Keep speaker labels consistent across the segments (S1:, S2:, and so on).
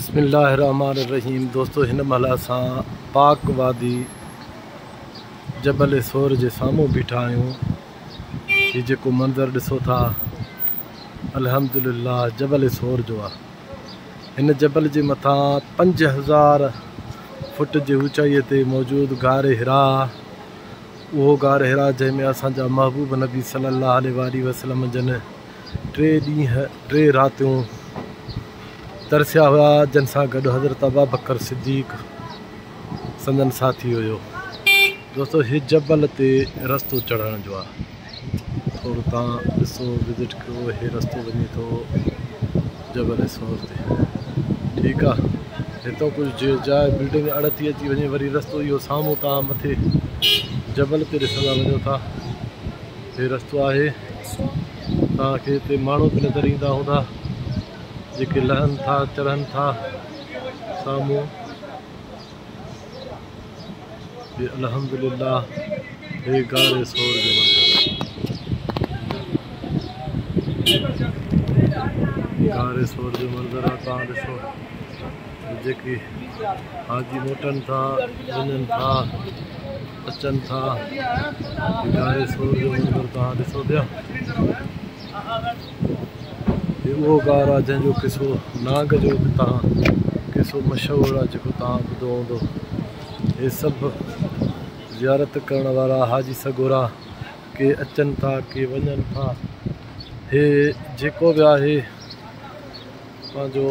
S1: بسم الله الرحمٰن الرحيم دوستو هن مهل اسان پاڪ وادي جبل ثور جي سامهون بيٺا آهيون هي جيڪو منظر ڏسو ٿا الحمد لله جبل ثور جو آهي هن جبل جي مٿان پنج هزار فٽ جي اوچائي تي موجود غار حرا اهو غار حرا جنهن ۾ اسان جا محبوب نبي صلي الله عليه وآله وسلم جن ٽي ڏينهن ٽي راتيون ترسيا هيا جن سان گڏ حضرت ابابڪر صديق سندن ساٿي هيو دوستو هي جبل تي رستو چڙهڻ جو آهي ٿورو تان ڏسو وزٽ ڪيو هي رستو وڃي ٿو جبل سور تي ٺيڪ آ هتو ڪجهه جي جاء بلڊنگ اڙ ٿي اچي وڃي وري رستو اهو سامهون تان مٿي جبل تي ڏسندا وڃو ٿا هي رستو آهي. توهان کي هتي ماڻهو به نظر ايندا هوندا جيڪي لهن ٿا چڙهن ٿا. سامهون هي الحمد لله هي غار ثور جو منظر آهي. غار ثور جو منظر آهي توهان ڏسو جيڪي حاجي موٽن ٿا وڃن ٿا. اچن ٿا اداري سور جو منظر توهان ڏسو پيا هي اهو غار آهي جنهن جو قصو نانگ جو به توهان قصو مشهور آهي جيڪو توهان ٻڌو هوندو هي سڀ زيارت ڪرڻ وارا حاجي سڳورا ڪي اچن ٿا ڪي وڃن ٿا هي جيڪو به آهي اسان جو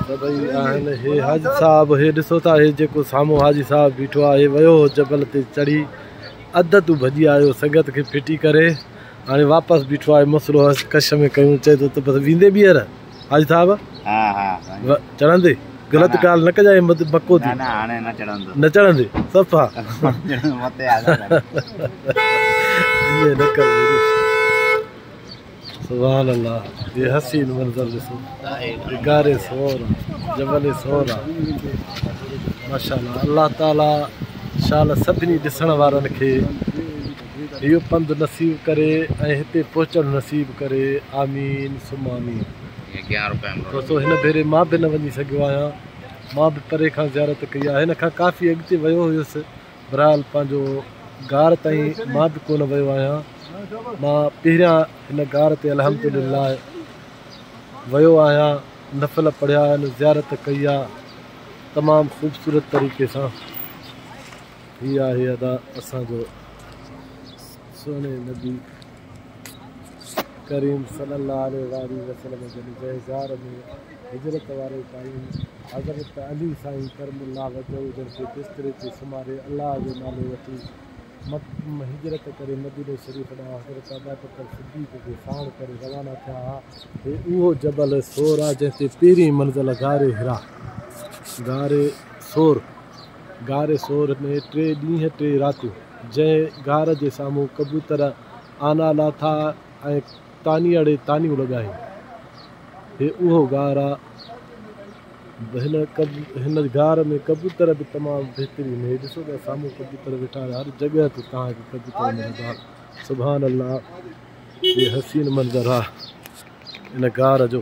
S1: سڀئي آهن هي حاجي صاحب هي ڏسو ٿا هي جيڪو سامو حاجي صاحب بيٺو آهي ويو جبل تي چڙهي اڌ تو ڀڄي آيو سنگت کي ڦٽي ڪري هاڻي واپس بيٺو آهي مسلو هس ڪش ۾ ڪيون چي ته بس ويندي ٻيهر حاجي صاحب ها ها چڙهندي غلط ڳالهه نه ڪجائين مڪو ٿي نه هاڻي نه چڙهندو نه چڙهندي صفا متي آ نه ڪر سبحان الله هي حسين منظر ڏسو غاري صور جبل صور آ ماشاءالله الله تعالي شال سڀني ڏسڻ وارن کي اهو پنڌ نصيب ڪري ۽ هتي پهچڻ نصيب ڪري آمين ثم آمين دوستو هن ڀيري مان به نه وڃي سگهيو آهيان مان به پري کان زيارت ڪئي آهي هن کان ڪافي اڳتي ويو هيس بھرحال پنھنجو غار تائين مان به ڪونه ويو آھيان مان پهريان هن غار تي الحمدلله ويو آھيان نفل پڙهيا آھن زيارت ڪئي آ تمام خوبصورت طريقي سان هي آھي ادا اسان جو سهڻي نبي ڪريم صلي الله عليه وآله وسلم جن جي غار ۾ هجرت واري قائم حضرت علي سائين ڪرم الله وجهه جن کي بستري تي سمهاري الله جو نالو وٺي م هجرت ڪري مديني شريف ڏانهن حضرت ابابڪر صديق کي ساڻ ڪري روانا ٿيا ها. هي اهو جبل ثور آهي جنهن تي پهرين منزل غار حرا، غار ثور، غار ثور ۾ ٽي ڏينهن ٽي راتيون جنهن غار جي سامهون ڪبوتر آنا لاٿا، ۽ تاني اڙي تانيون لڳائين. هي اهو غار آ. هن غار ۾ ڪبوتر به تمام بهترين هي ڏسو ته سامهون ڪبوتر ويٺا آهن هر جڳهه تي توهان کي ڪبوتر ملندا سبحان الله هي حسين منظر آ ان غار جو.